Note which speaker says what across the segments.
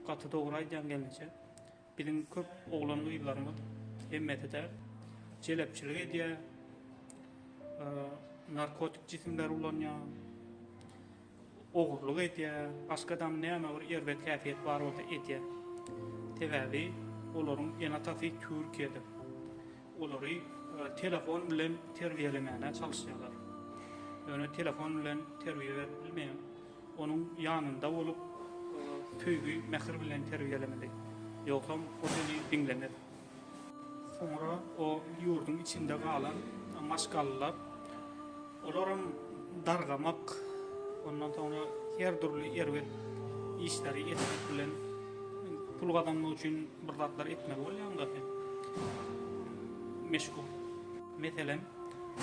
Speaker 1: Gaty dogry aýdýaň gelneje. Biziň köp oglan gyzlarymyz, hemmesi däl, jelepçilik edýär, narkotik jisimleri ulanýar, ogurlyk edýär, başga dam näme bir erbet häsiýet bar bolsa edýär. Sebäbi olaryň ene-atasy Türkiýede. Olary telefon bilen terbiýelemäne çalyşýarlar. Ýöne telefon bilen terbiýe berip bilmeýän, onuň ýanynda bolup, söýgi, mähir bilen terbiýelemeli. Ýogsam, o seni diňlemez. Soňra o ýurduň içinde galan maşgalalar Olaram dargamak, ondan soňra her dürli erbet işleri etmek bilen pul gazanmak üçin bir zatlar etmeli bolýaň dagy. Meşgul. Meselem,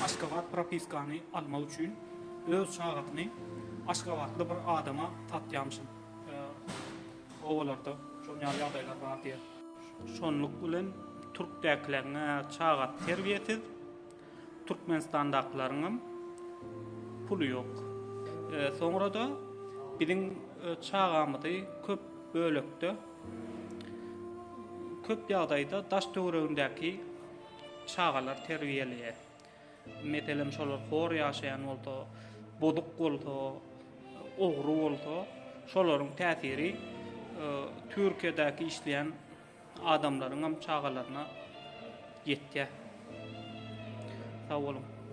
Speaker 1: Aşgabat propiskany almak üçin öz çagasyny aşgabatly bir adama satýamyşyn. Obalarda şonuň ýaly ýagdaýlar bar diýýär. Şonluk bilen türkdäkileň-ä çagasy terbiýesiz. Türkmenistandakylaryňam puly ýok. Soňra-da biziň çagamyzy köp bölekde, köp ýagdaýda daş-töweregindäki çagalar terbiýeleýär. Meselem, şolar hor ýaşaýan bolsa, bozuk bolsa, ogry bolsa, şolaryň täsiri Türkiýedäki işleýän Adamlaryňam çagalaryna ýetýä. Sag boluň.